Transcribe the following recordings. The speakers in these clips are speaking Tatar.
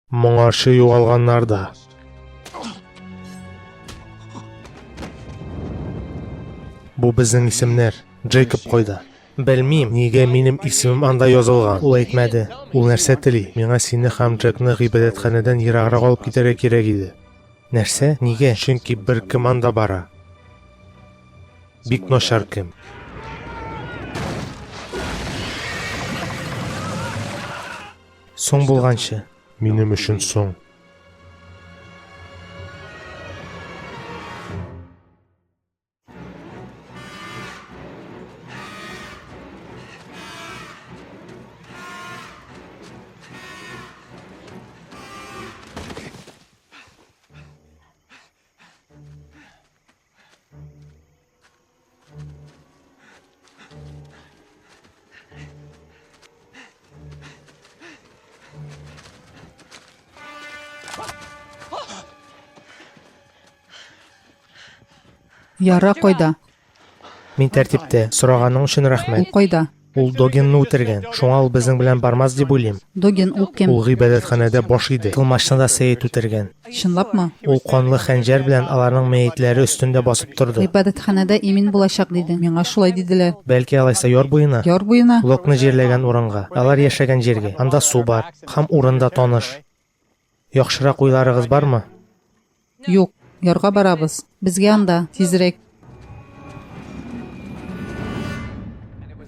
Моңарчы югалганнар да. Бу безнең исемнәр. Джейкоб кайда? Белмим, нигә минем исемем анда язылган. Ул әйтмәде. Ул нәрсә тели? Миңа сине һәм Джекны гыйбадәтханәдән ераграк алып китәргә кирәк иде. Нәрсә? Нигә? Чөнки бер кем анда бара. Бик начар кем. Соң булганчы. Минем өчен соң. Яра кайда? Мин тәртиптә. Сораганың өчен рәхмәт. Ул кайда? Ул Догинны үтергән. Шуңа ул безнең белән бармас дип уйлыйм. Догин ул кем? Ул гыйбадәтханәдә баш иде. Тылмачны да Сәет үтергән. Чынлапмы? Ул канлы хәнҗәр белән аларның мәетләре өстендә басып торды. Гыйбадәтханәдә имин булачак диде. Миңа шулай диделәр. Бәлки алайса яр буена? Яр буена? Локны җирләгән урынга. Алар яшәгән җиргә. Анда су бар. Һәм урын да таныш. Яхшырак уйларыгыз бармы? Юк, ярга барабыз. Безгә анда, тизрәк.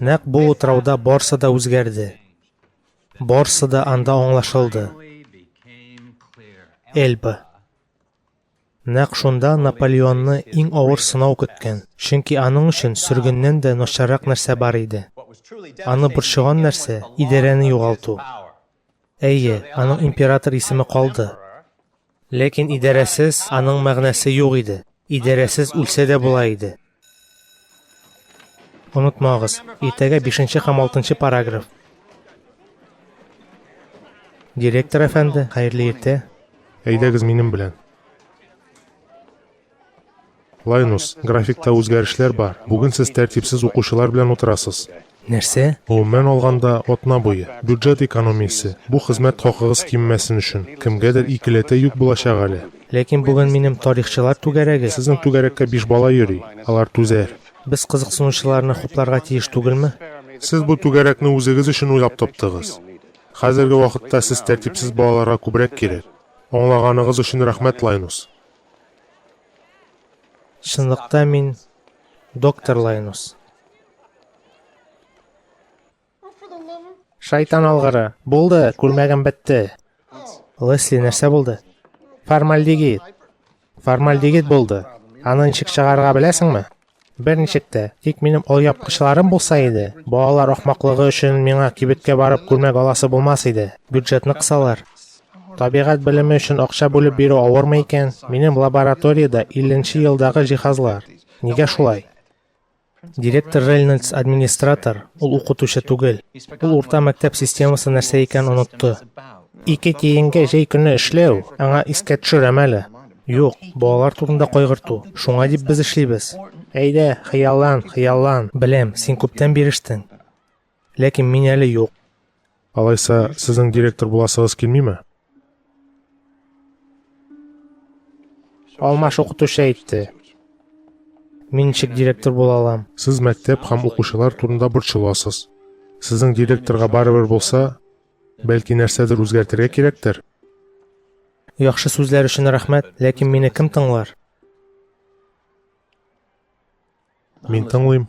Нәкъ бу утрауда барсы да үзгәрде. Барсы да анда аңлашылды. Эльба. Нәкъ шунда Наполеонны иң авыр сынау көткән, чөнки аның өчен сөргеннән дә начаррак нәрсә бар иде. Аны борчыган нәрсә, идарәне югалту. Әйе, аның император исеме калды. Ләкин идарәсез аның мәгънәсе юк иде. Идарәсез үлсә дә була иде. Онытмагыз, иртәгә бишенче һәм алтынчы параграф. Директор әфәнде, хәерле иртә. Әйдәгез минем белән. Лайнус, графикта үзгәрешләр бар. Бүген сез тәртипсез укучылар белән утырасыз. Нәрсә? Гомумән алганда, атна буе. Бюджет экономиясе. Бу хезмәт хакыгыз кимемәсен өчен. Кемгәдер икеләтә йөк булачак әле. Ләкин бүген минем тарихчылар түгәрәге. Сезнең түгәрәккә биш бала йөри. Алар түзәр. Без кызыксынучыларны хупларга тиеш түгелме? Сез бу түгәрәкне үзегез өчен уйлап таптыгыз. Хәзерге вакытта сез тәртипсез балаларга күбрәк кирәк. Аңлаганыгыз өчен рәхмәт, Лайнус. Чынлыкта мин доктор Лайнус. Шайтан алгыры. Булды, күлмәгем бетте. Лесли, нәрсә булды? Формальдегид. Формальдегид булды. Аны ничек чыгарырга беләсеңме? Берничек тә, тик минем алъяпкычларым булса иде. Балалар ахмаклыгы өчен миңа кибеткә барып күлмәк аласы булмас иде. Бюджетны кысалар. Табигать белеме өчен акча бүлеп бирү авырмы икән? Минем лабораториядә илленче елдагы җиһазлар. Нигә шулай? Директор Рельнольдс администратор, ул укытучы түгел. Ул урта мәктәп системасы нәрсә икәнен онытты. Ике тиенгә җәй көне эшләү, аңа искә төшерәм әле. Юк, балалар турында кайгырту. Шуңа дип без эшлибез. Әйдә, хыяллан, хыяллан. Беләм, син күптән бирештең. Ләкин мин әле юк. Алайса, сезнең директор буласыгыз килмиме? Алмаш укытучы әйтте. Мин ничек директор була алам? Сез мәктәп һәм укучылар турында борчыласыз. Сезнең директорга барыбер булса, Бәлки нәрсәдер үзгәртергә кирәктер? Яхшы сүзләр өчен рәхмәт, ләкин мине кем тыңлар? Мин тыңлыйм.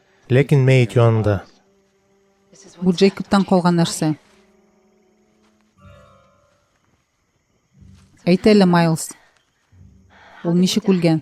Ләкин мәет янында. Бу Джейкобтан калган нәрсә. Әйт әле, Майлз. Ул ничек үлгән?